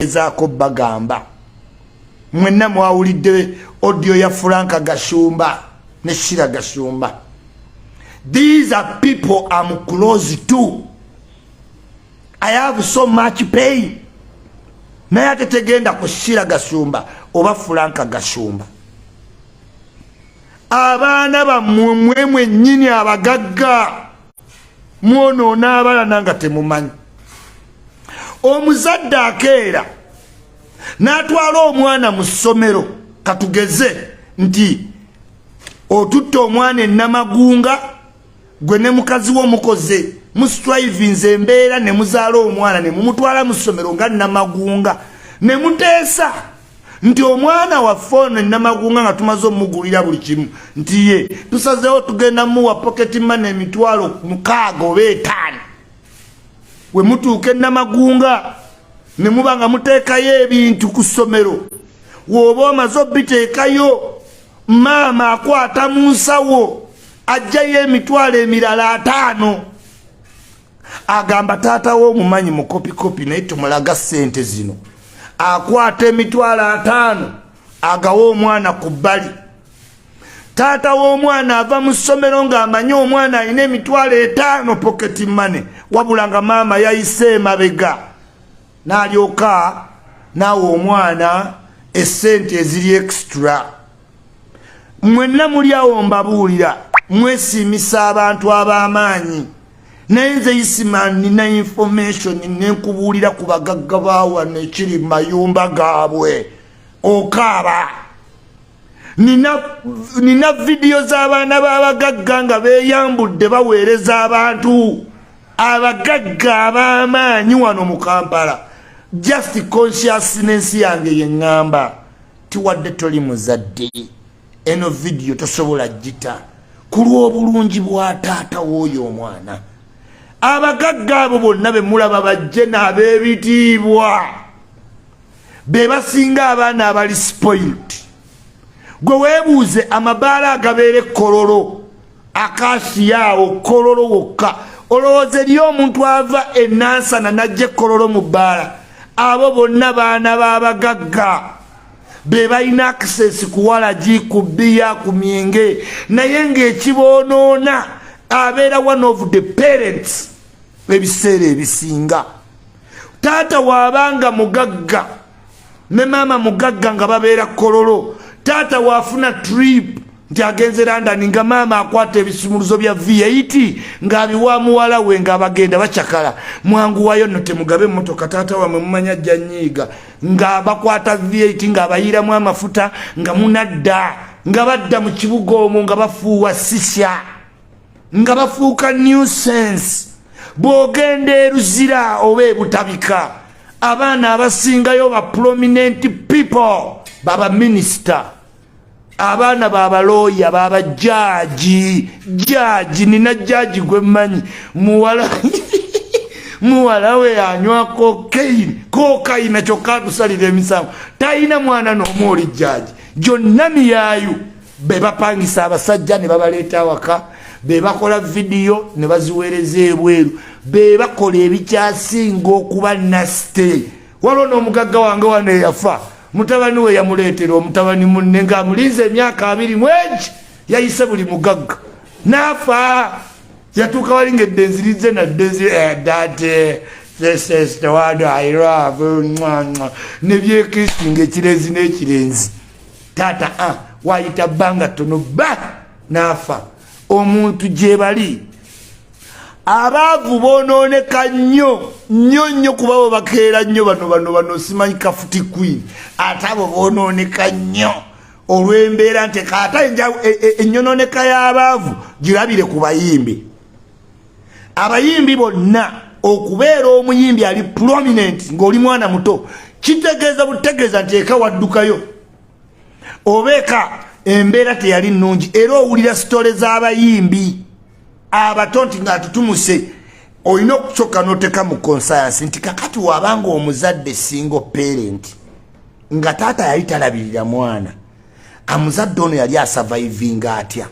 ezaako bagamba mwenna mwawulidde odio ya franka gashumba ne shira gashumba these are people am close to i have so much pain naye ate tegenda ku shira gashumba oba franka gashumba abaana bammwe mwe mwennyini abagagga mwonoona abalana nga temumanyi omuzadde akeera n'atwala omwana mu ssomero katugeze nti otutte omwana enamagunga gwe ne mukazi wo mukoze mustrivinze embeera ne muzaala omwana ne mumutwala mu ssomero nga namagunga ne muteesa nti omwana waffe ono enamagunga nga tumaze omugulira buli kimu nti ye tusazeewo tugenda muwa poketi mana emitwalo mukaaga oba etaano we mutuuka enamagunga ne muba nga muteekayo ebintu ku ssomero wooba omaze obiteekayo maama akwata mu nsawo ajjayo emitwalo emirala ataano agamba taata we omumanyi mukopikopi naye tumulaga sente zino akwata emitwalo ataano agawa omwana ku bbali taata w'omwana ava mu ssomero ng'amanyi omwana alina emitwalo etaano poketi mane wabula nga maama yayise emabega n'alyoka naawe omwana essente eziri extra mwenna muli awo mbabuulira mwesiimisa abantu ab'amaanyi naye nze isima nina information nenkubuulira ku bagagga baawa nekiri mayumba gaabwe okaaba nina, nina vidiyo z'abaana b'abagagga nga beeyambudde baweereza abantu abagagga ab'amaanyi wano mu kampala just consciousness yange yeŋŋamba tiwadde toli muzadde eno vidiyo tosobola gita ku lw'obulungi bwa taata w'oyo omwana abagagga abo bonna be mulaba bajje n'ab'ebitiibwa be basinga abaana abali spoilt gwe weebuuze amabaala agabeera ekkololo akasiyaawo kololo wokka olowooza eri omuntu ava enansana najja ekkololo mu bbaala abo bonna baana b'abagagga be balina access ku walagi ku bbiya ku myenge naye ng'ekiboonoona abeera one of the parents ebiseera ebisinga taata waabanga mugagga ne maama mugagga nga babeera kololo taata waafuna trip nti agenze landani nga maama akwata ebisumuluzo bya viyaiti ng'abiwa muwala we ng'abagenda bacakala mwanguwayo no temugabe emmotoka taata wamwe mumanya ajja nyiiga nga bakwata viyaiti ng'abayiiramu amafuta nga munadda nga badda mu kibuga omwo nga bafuuwa sisya nga bafuuka new sense bw'ogenda eruzira oba ebutabika abaana abasingayo ba prominent people baba minisita abaana babalooya baba jaji jaji nina jaji gwemmanyi muwala muwala we anywa kokaini kokaina kyokka atusalira emisango talina mwana noomu oli jaji gyonna miyayu be bapangisa abasajja ne babaleeta awaka be bakola vidiyo ne baziweereza ebweru be bakola ebikyasinga okuba naste waliwo n'omugagga wange wano eyafa mutabani we yamuleetera omutabani munne ng'amulinze emyaka abiri mwegi yayise buli mugagga n'afa yatuuka wali ngedde nzirizze nadde zi edate eh, this is the one i love nebyekisinga ekirenzi n'ekirenzi taata a ah, wayita bbanga tono ba n'afa omuntu gyebali abaavu bonooneka nnyo nnyo nnyo kuba bo bakeera nnyo bano bano bano simanyi kafuti queen ate abo bonooneka nnyo olw'embeera nti kaata e, e, ennyononeka y'abaavu girabire ku bayimbi abayimbi bonna okubeera omuyimbi ali prominent ng'oli mwana muto kitegeeza butegeeza nti eka waddukayo obeka embeera teyali nnungi era owulira sitole z'abayimbi abato nti ng'atutumuse olina okusooka n'oteeka mu konsayansi nti kakati wabanga omuzadde single parent nga taata yali talabirira mwana amuzadde ono yali asavaivinga atya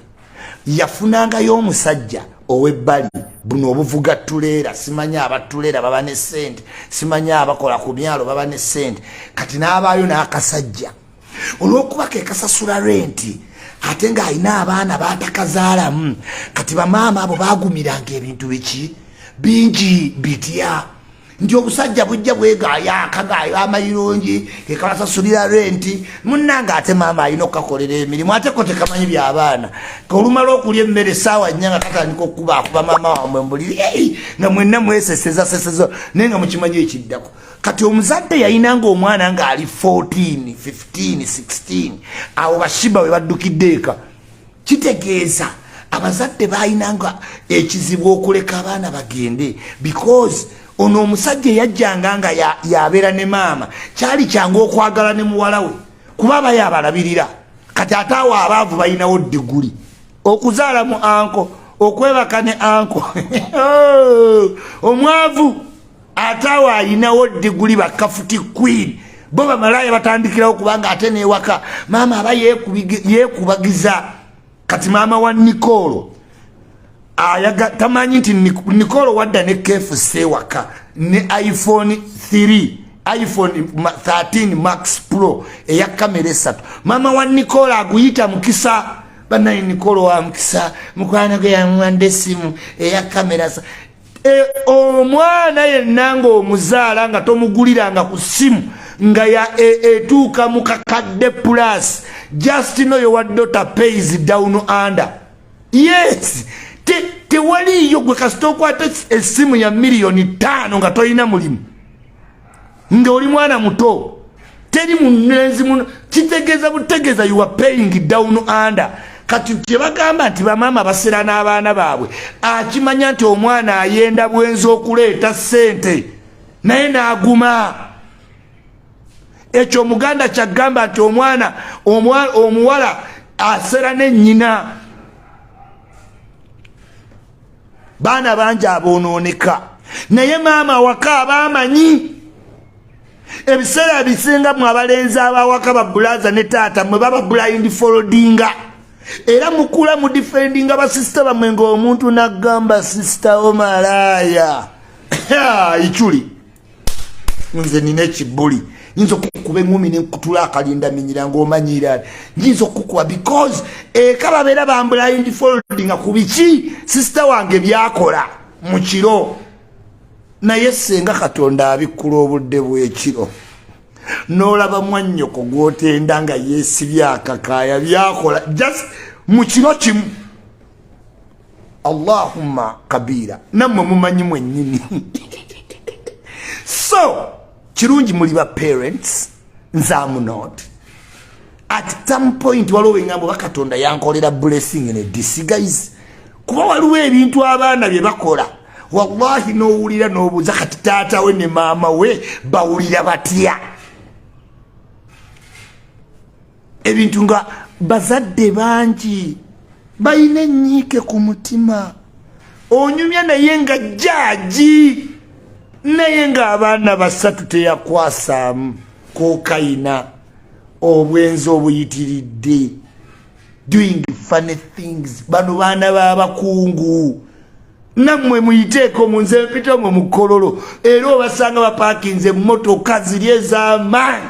yafunangayo omusajja owebbali buno obuvuga tuleera simanyi abatuleera baba ne sente simanyi abakola ku myalo baba ne sente kati n'abaayo n'akasajja olw'okuba ke kasasula renti ate ng'alina abaana batakazaalamu kati bamaama abo bagumiranga ebintu biki bingi bitya nti obusajja bujja bwegaya akagayo amayirungi kekabasasulira renti munange ate maama alina okukakolera emirimu ate ko tekamanyi byabaana kolumala okulya emmere saawa nya nga katandika okukuba akuba maama wamwe mbuliri ei nga mwenna mweseseza seseza naye nga mukimanyi ekiddako kati omuzadde yayinanga omwana nga ali 14 15 16 awo bashiba we baddukidde eka kitegeeza abazadde balina nga ekizibu okuleka abaana bagende because ono omusajja eyajjanga nga yabeera ne maama kyali kyangu okwagala ne muwala we kuba aba yabalabirira kati ate awo abaavu balinawo diguli okuzaala mu anko okwebaka ne anko oh, omwavu ate awo alinawo diguli bakafuti queen bo bamalaaya batandikirawo kubanga ate newaka maama aba yekubagiza kati maama wa nikolo ayaga tamanyi nti nikolo wadda ne kfc ewaka ne iphone 3 iphone 13 max pro eya kamera esatu maama wa nikolo aguyita mukisa banaye nikolo wa mukisa mukwano gwe yamuwanda esimu eya kamera E, omwana yenna ng'omuzaala nga tomuguliranga ku ssimu nga e, etuuka mu kakadde plus just no your daughter pays down under yes tewaliiyo gwe kasita okwata essimu ya miliyoni ttaano nga tolina mulimu nga oli mwana muto teri mulenzi muno kitegeeza butegeeza you are paying down under kati kyebagamba nti bamaama basera n'abaana baabwe akimanya nti omwana ayenda bwenzi okuleeta ssente naye n'aguma ekyo omuganda kyagamba nti omwana omuwala asera ne nnyina baana bangi abonooneka naye maama awaka aba amanyi ebiseera bisinga mu abalenzi abawaka babulaza ne taata mwe baba blind foldinga era mukula mu defendinga basisita bamwe ngaomuntu nagamba sisita omalaaya ichuli nze nina ekibuli nyinza okukuba eŋumi nenkutula akalinda minyira ngaomanyiira nyinza okukuba because eka babeera bambulayindi foldi nga ku biki sisita wange byakola mu kiro naye senga katonda abikkula obudde bwekiro nolaba mwannyoko gwotenda nga yesibyakakaaya byakola just mu kiro kimu allahumma kabiira nammwe mumanyi mwennyini so kirungi muli ba parents nze amunot at some point waliwo wengambo bakatonda yankolera blessing ne disguise kuba waliwo ebintu abaana bye bakola wallahi nowulira nobuuza kati taata we ne maama we bawulira batya ebintu nga bazadde bangi balina enyiike ku mutima onyumya naye nga jaaji naye ng'abaana basatu teyakwasaamu kokayina obwenzi obuyitiridde doing funny things bano baana babakungu nammwe muyiteeko mu nze mpita mwe mukololo era obasanga bapakinze emmotoka ziri ez'amaanyi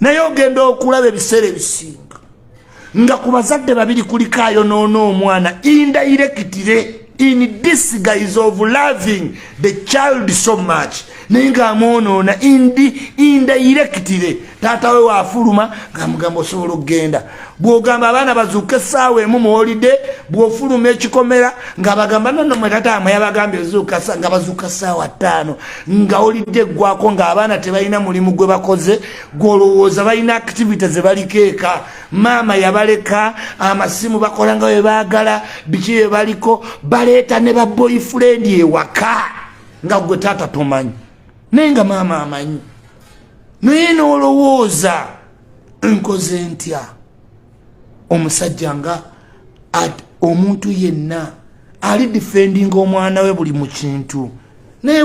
naye ogenda okulaba ebiseera ebisinga nga ku bazadde babiri kuliko ayonoona omwana indairekitire in disguise of loving the child so much naye nga amwonoona indi indairekitire taata we waafuluma ngaamugamba osobola okugenda bwogamba abaana bazuuke esaawa emu muwolide bwofuluma ekikomera nga bagamba nono mwetataama yabagambye zuuka nga bazuuka saawa ttaano nga olidde eggwako nga abaana tebalina mulimu gwe bakoze gwolowooza balina activity zebaliko eka maama yabaleka amasimu bakola nga webaagala biki bebaliko baleeta ne ba boyfriend ewaka nga gwe taata tomanyi naye nga maama amanyi naye nolowooza nkoze ntya omusajja nga omuntu yenna ali defending omwana we buli mu kintu naye